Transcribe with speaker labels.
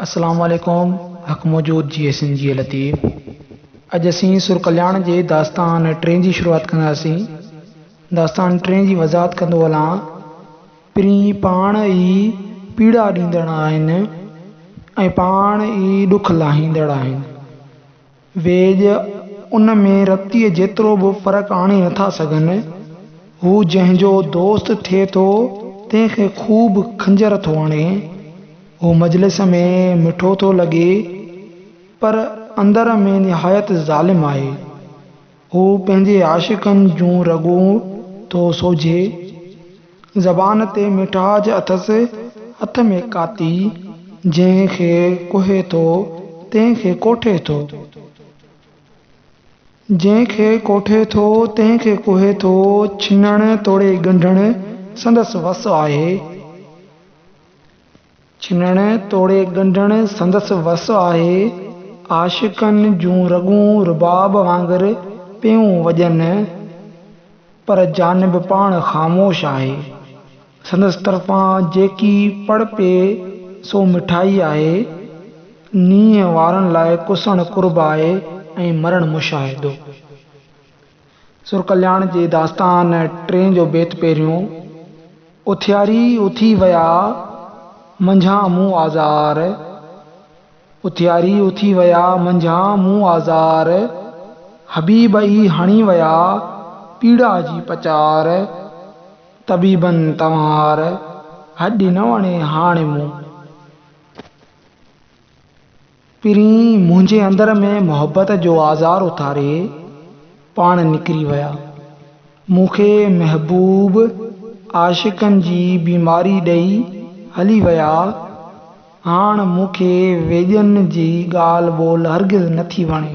Speaker 1: اسلام عليڪم حق موجود جي اي سين جي لطيف اڄ اسين سر ڪلياڻ جي داستان ٽئين جي شروعات ڪنداسين داستان ٽئين جي وضاحت ڪندو هلان پرين پاڻ ئي پيڙا ڏيندڙ آهن ۽ پاڻ ئي ڏک لاهيندڙ آهن ويڄ ان ۾ رتيء جيترو به فرق آڻي نٿا سگهن. هو جنهن جو دوست ٿئي ٿو، تنهن کي خوب خنجر ٿو هڻي. هو مجلس ۾ مٺو ٿو لڳي، پر اندر ۾ نهايت ظالم آهي. هو پنهنجي عاشقن جون رڳون ٿو سوجهي. زبان تي مٺاج اٿس، هٿ ۾ ڪاتي. جنهن کي ڪوهي ٿو، تنهن کي ڪوٺي ٿو. جنهن کي ڪوٺي ٿو، تنهن کي ڪوهي ٿو. ڇنڻ توڙي ڳنڍڻ سندس وس آهي. ڇنڻ توڙي ڳنڍڻ سندس وس آهي. عاشقن جون رڳون رباب وانگر پيون وڄن، پر جانب پاڻ خاموش آهي. سندس طرفان جيڪي پڙ پئي سو مٺائي آهي. نينهن وارن لاء ڪسڻ قرب آهي ۽ مرڻ مشاهدو. سر ڪلياڻ جي داستان ٽئين جو بيت پهريون، اٿياري اٿي ويا منجهان مون آزار، اٿياري اٿي ويا منجهان مون آزار، حبيب ئي هڻي ويا پيڙا جي پچار، طبيبن تنوار هڏي نه وڻي هاڻي مون. پرين منهنجي اندر ۾ محبت جو آزار اٿاري پاڻ نڪري ويا. مون کي محبوب عاشقن جي بيماري ڏئي هلي ويا. هاڻ مون کي ويڄن جي ڳالهه ٻولهه هرگز نٿي وڻي.